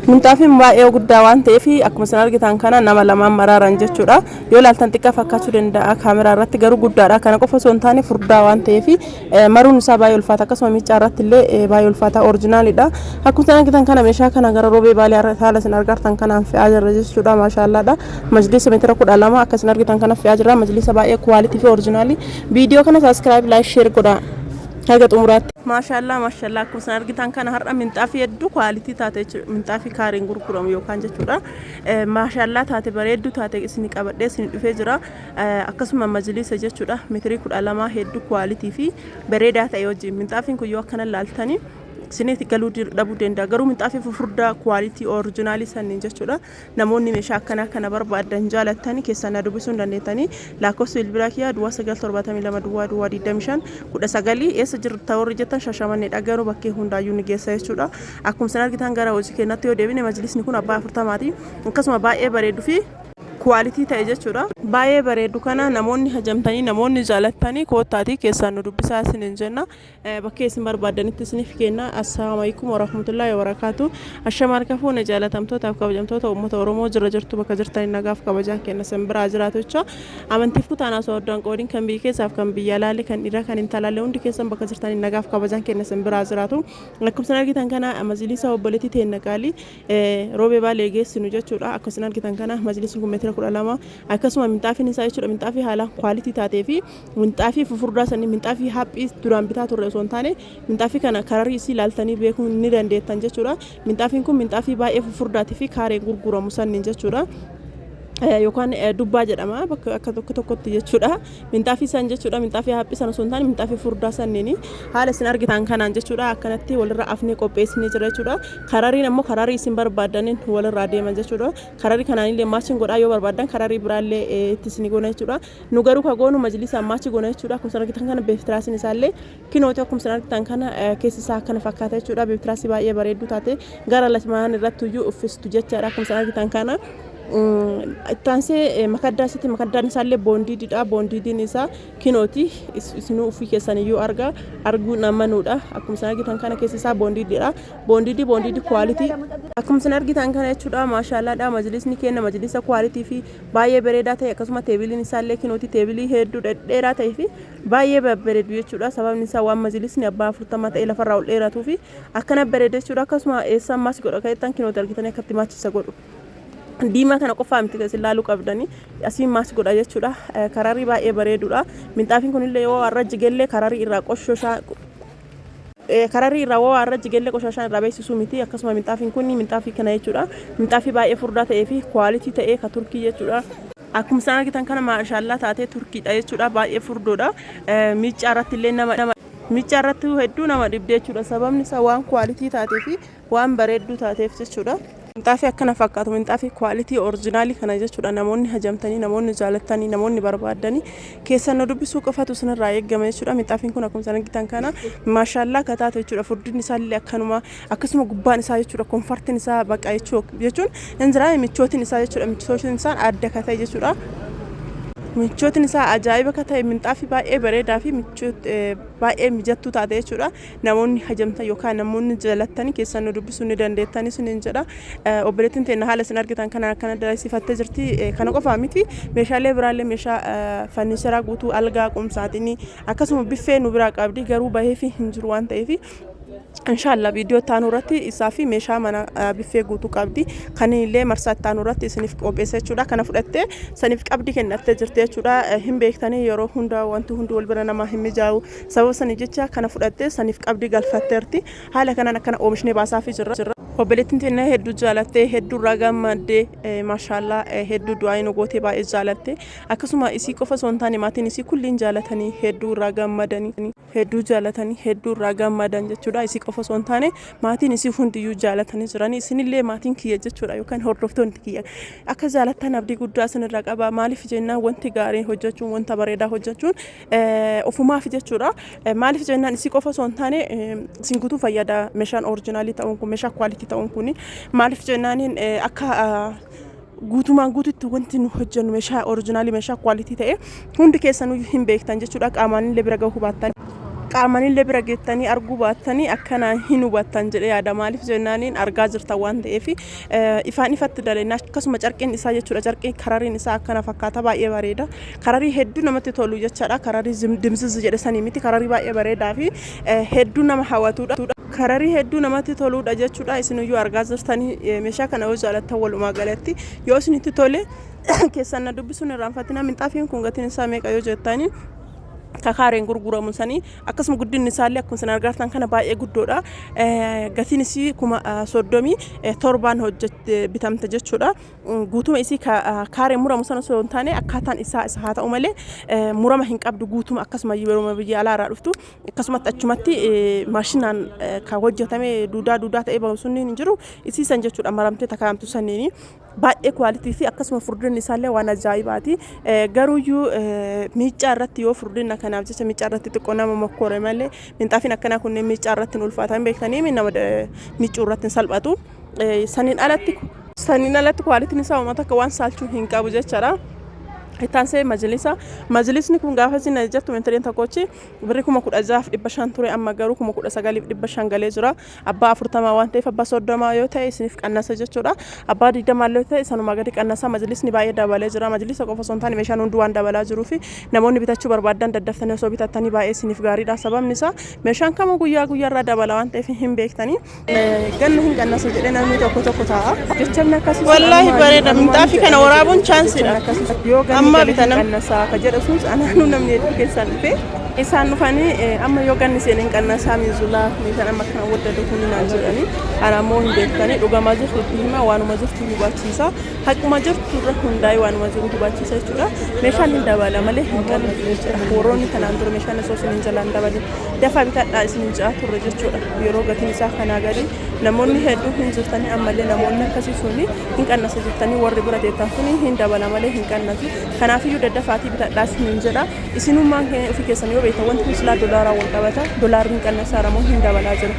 Minxaafiin baay'ee guddaa waan ta'eef akkuma isin argitan kana nama lamaan maraaran jechuudha. Yoo ilaaltan xiqqaa fakkaachuu danda'a kaameraa irratti garuu guddaadha. Kana qofa osoo hin taane furdaa waan ta'eef maruun isaa baay'ee ulfaata akkasuma miicaa irratti illee baay'ee ulfaata orijinaalidha. Akkuma isin argitan kana meeshaa kana gara roobee baalee haala isin argartan kanaan fe'aa jirra jechuudha maashaallaadha. Majliisa meetira kudha lama akka isin argitan kana fe'aa jirra majliisa baay'ee kuwaalitii fi orijinaalii. Viidiyoo kana saaskiraayib laayik sheer godhaa. haga xumuraatti. Maashaallaa maashaallaa akkuma isin argitan kana har'a minxaafii hedduu kwaalitii taate jechuudha minxaafii kaariin gurguramu yookaan jechuudha maashaallaa taate bareedduu taate isin qabadhee isin dhufee jira akkasuma majliisa jechuudha mitirii kudha lamaa hedduu kwaalitii fi bareedaa ta'e wajjin minxaafiin kun yoo akkana laaltanii isinitti galuu dhabuu danda'a garuu minxaafii fufurdaa kwaalitii orijinaalii sanniin jechuudha Namoonni meeshaa akkanaa kana barbaaddan jaalattan keessaa na dubbisuu hin dandeettanii. Laakkofsi bilbilaa kiyyaa duwwaa 9 72 duwwaa duwwaa 25 19 eessa jirta warri jettan Shashamanneedha garuu bakkee hundaayyuu ni geessa jechuudha. Akkuma isin argitan gara hojii keenyatti yoo deebine majlisni kun abbaa 40ti. Akkasuma baay'ee bareedu fi kuwaalitii ta'e jechuudha. Baay'ee bareedu kana namoonni hajamtanii namoonni jaalattanii koottaatii keessaa nu dubbisaa isiniin jenna. bakkee isin barbaaddanitti isiniif kenna assalaamu alaikum warahmatullaahi wabarakaatu ashama harka fuune jaalatamtootaaf kabajamtoota uummata oromoo jira jirtu bakka jirtan nagaaf kabajaan kenna sin biraa jiraatu jecha amantiif kutaan osoo addaan qoodiin kan biyya keessaaf kan biyya alaalle kan dhiiraa kan intalaalle hundi keessan bakka jirtan nagaaf kabajaan kenna sin biraa jiraatu akkuma sin argitan kana majlisa obboleetti teenna qaalii roobee baalee geessinu jechuudha akkuma sin argitan kana majlisni kun meetira kudha lama akkasuma minxaafiin isaa jechuudha minxaafii haalaan kwaalitii taatee fi Minxaafii fufurdaa sanii minxaafii haaphii duraan bitaa turre osoo hin taane minxaafii kana kararii isii laaltanii beekuu ni dandeettan jechuudha. Minxaafiin kun minxaafii baay'ee fufurdaatii fi kaareen gurguramu sanniin jechuudha. Yookaan dubbaa jedhama bakka akka tokko tokkotti jechuudha. Minxaafii san jechuudha minxaafii haaphii san osoo hin taane minxaafii fufurdaa sanniin haala isin argitan kanaan jechuudha akkanatti walirra afnee qopheessinee jira jechuudha. Karariin ammoo kararii isin barbaadaniin walirraa deeman jechuudha. Kararii kanaanillee maachin godhaa yoo barbaadan kararii biraallee itti isin goona jechuudha. Nu garuu ka goonu majliisa ammaachi goona jechuudha. Akkuma isin argitan kana beeftiraasiin isaallee kinooti akkuma isin argitan kana keessi isaa akkana fakkaata jechuudha. Beeftiraasii baay'ee bareedduu taate gara latmaan irratti iyyuu uffistu jechaadha akkuma isin argitan kana. Ittaansee makaddaa isatti makaddaan isaallee boondiididha. Boondiidiin isaa kinooti isinuu uffii keessan iyyuu arga arguun amanuudha. Akkuma isin argitan kana keessi isaa boondiididha. Boondiidii boondiidii kwaalitii akkuma isin argitan kana jechuudha. Maashaallaadha majlisni keenya majlisa kwaalitii fi baay'ee bareedaa ta'e akkasuma teebiliin isaa illee kinooti teebilii hedduu dhedheeraa ta'ee fi baay'ee babbareedu jechuudha sababni isaa waan majlisni abbaa afurtama ta'e lafarraa ol dheeratuu fi akkana bareeda jechuudha akkasuma eessaan maasi godha ka'ettan kinooti argitanii akkatti maachisa godhu diimaa kana qofaa miti kan isin laaluu qabdanii asiin maas godha jechuudha kararii baay'ee bareedudha minxaafiin kunillee yoo har'a jigellee kararii irraa qoshoshaa Kararri irraa wawaa irra jige illee qoshaashaan irraa beeksisuu miti akkasuma minxaafiin kun minxaafii kana jechuudha minxaafii baay'ee furdaa ta'ee fi quality ta'ee ka turkii jechuudha. Akkuma isaan argitan kana maashaallaa taatee turkiidha jechuudha baay'ee furdoodha miiccaa irratti illee nama miiccaa irratti hedduu nama dhibdee jechuudha sababni isaa waan quality taatee fi Waan bareedduu taateef jechuudha. Minxaafii akkana fakkaatu minxaafii quality original kana jechuudha namoonni hajamtanii namoonni jaalattanii namoonni barbaaddanii keessan nu dubbisuu qofatu isinirraa eeggama jechuudha minxaafiin kun akkuma isin argitan kana maashaallaa akka taatu jechuudha furdin isaallee akkanuma akkasuma gubbaan isaa jechuudha konfartiin isaa baqa jechuu jechuun hin jira michootiin isaa jechuudha michootiin isaa adda ka ta'e jechuudha michootiin isaa ajaa'iba ka ta'e minxaafii baay'ee bareedaa fi michoot baay'ee mijattuu taate jechuudha Namoonni hajamtan yookaan namoonni jaalattani keessan nu dubbisuu ni dandeettani isiniin jedha. Obboleettiin teenna haala isin argitan kanaan akkana dalaisiifattee jirti. Kana qofaa miti meeshaalee biraallee meeshaa fanniicheraa guutuu algaa qumsaaxinii akkasuma biffee nu biraa qabdi garuu baheefi hin jiru waan ta'eef Inshaallah viidiyoo itti aanu irratti isaa fi meeshaa mana biffee guutuu qabdi. Kan illee marsaa itti aanu irratti isiniif qopheessa jechuudha. Kana fudhattee saniif qabdi kennattee jirti jechuudha. Hin beektanii yeroo hunda wanti hundi wal bira namaa hin mijaa'u. Sababa saniif jecha kana fudhattee saniif qabdii galfatteerti. Haala kanaan akkana oomishnee baasaafii jirra. Obboleettiin teenya hedduu jaalattee hedduu irraa gammaddee eh, maashaallah eh, hedduu du'aa'ii nu gootee baay'ee jaalatte akkasuma isii qofa osoo hin taane maatiin isii kulliin jaalatanii hedduu irraa gammadanii hedduu jaalatanii hedduu irraa gammadan jechuudha isii qofa osoo hin taane maatiin isii hundiyyuu jaalatanii jiranii isinillee maatiin kiyya jechuudha yookaan hordoftoonni kiyya akka jaalattan abdii guddaa isinirraa qaba maaliif jennaan wanti gaariin hojjechuun wanta bareedaa hojjechuun Ofumaaf jechuudha. Maaliif jennaan isii qofa osoo hin taane isin guutuu fayyada meeshaan orijinaalii ta'uun kun meeshaa kwaalitii ta'uun kun maaliif jennaan akka guutumaan guututti wanti nu hojjennu meeshaa orijinaalii meeshaa kwaalitii ta'e hundi keessanuu hin beektan jechuudha qaamaan illee bira gahuu baattan qaamaan illee bira geettanii arguu baattanii akkanaa hin hubattan jedhee yaada maaliif jennaaniin argaa jirtan waan ta'eef ifaan ifatti dalennaa akkasuma carqiin isaa jechuudha carqiin karariin isaa akkana fakkaata baay'ee bareeda Kararii hedduu namatti tolu jechaadha. Kararii zim- dimziz jedhe sanii miti. Kararii baay'ee bareedaa fi eh, hedduu nama hawatuudha. Kararii hedduu namatti toluudha jechuudha. Isiniyyuu argaa jirtanii eh, meeshaa kana yoo jaalattan walumaa galatti yoo isinitti tole keessan na dubbisuun irraanfatina minxaafiin kun gatiin isaa meeqa yoo jettanii kakaareen gurguramu sanii akkasuma guddinni isaallee akkuma isin argartan kana baay'ee guddoodha. Eh, Gatiin isii kuma eh, soddomii eh, torbaan hojjette bitamte jechuudha. guutuma isii ka kaareen muramu san osoo hin taane akkaataan isaa isa haa ta'u malee murama hin qabdu guutuma akkasuma yeruma biyya alaa irraa dhuftu akkasumatti achumatti maashinaan ka hojjetame duudaa duudaa ta'ee bahu sunniin hin jiru isii san jechuudha maramtee takaayamtu sanniini baay'ee kwaalitii fi akkasuma furdinni isaallee waan ajaa'ibaati garuuyyuu miicaa irratti yoo furdinna kanaaf jecha miicaa irratti xiqqoo nama mokkoore malee minxaafiin akkanaa kunneen miicaa irratti hin ulfaatan beektanii nama miicuu irratti hin salphatu. Eh, Saniin alatti saniin alatti kwaalitiin isaa uummata akka waan saalchuu hin qabu jechaadha. Ittaan see majlisa. Majlisni kun gaafa isin jettu mentaliin tokkochi birri kuma kudha jaaf dhibba shan ture amma garuu kuma kudha sagaliif dhibba shan galee jira. Abbaa afurtamaa waan ta'eef abbaa soddomaa yoo ta'e isiniif qannasa jechuudha. Abbaa digdamaa yoo ta'e sanumaa gadi qannasa majlisni baay'ee dabalee jira. Majlisa qofa osoo hin taane meeshaan hundi waan dabalaa jiruu fi namoonni bitachuu barbaadan daddaftanii osoo bitattanii baay'ee isiniif gaariidha. Sababni isaa meeshaan kamuu guyyaa guyyaarraa dabala waan ta'eef hin beektanii. Ganna hin qannasu jedhee namni tokko tokko taa'a. Jechamni akkasii Wallaahi bareeda. Minxaafii kana waraabuun chaansiidha. Yoo ganni Amma gale hin bitanam. qannasaa ka jedha suus anaanuu namni hedduu keessaan dhufe. Isaan dhufanii eh, amma yoo ganni seenee hin qannasaa miizulaa meeshaan amma kana waddatu kun naan jedhanii ana ammoo hin beektanii dhugamaa jirtu itti himaa waanuma jirtu hubachiisa Haquma jirtu irra hundaa'ee waanuma jiru hubachiisa jechuudha. Meeshaan hin dabala malee hin qalu jechuudha. Warroonni kanaan dura meeshaan osoo isiniin jalaa hin dabalin dafaa bitadhaa isiniin ja'a turre jechuudha. Yeroo gatiin isaa kanaa gadi namoonni hedduun hin jirtanii ammallee namoonni akkasii suni hin qannasa jettanii warri bira teettan kuni hin dabala malee hin qannasu. Kanaafiyyuu daddafaatii bitadhaa isiniin jedha. Isinummaan kee ofii keessan yoo beektan wanti kun silaa dolaaraan wal qabata dolaarri hin qannasaara moo hin dabalaa jira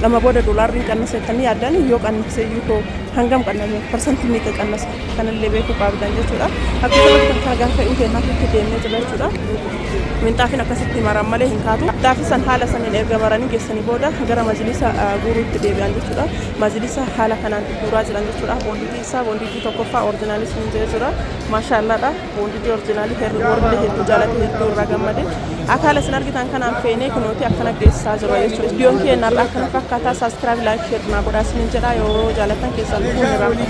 amma booda dolaarri hin qannasa jettanii yaaddan yoo qannase iyyuu koo hangam qannasa parsantii meeqa qannasa kanallee beekuu qaabdan jechuudha akka kanatti kan gaafa fe'uu ta'e kaasutti deemnee jira jechuudha minxaafiin akkasitti maran malee hin kaatu minxaafi san haala saniin erga maranii geessanii booda gara majlisa guuruutti deebi'an jechuudha majlisa haala kanaan guuraa jiran jechuudha boonditii isaa boonditii tokkoffaa orjinaalis hin jira maashaallaadha Boondidii orjinaalii herri warrillee hedduu jaalate hedduu irraa gammade akaala isin argitan kanaan feenee kunooti akkana geessaa jiru jechuudha. Viidiyoon keenya irraa akkana fakkaataa saaskiraayib laayik sheer naa godhaa isinin jedhaa yoo jaalatan keessaan dhufuun irraa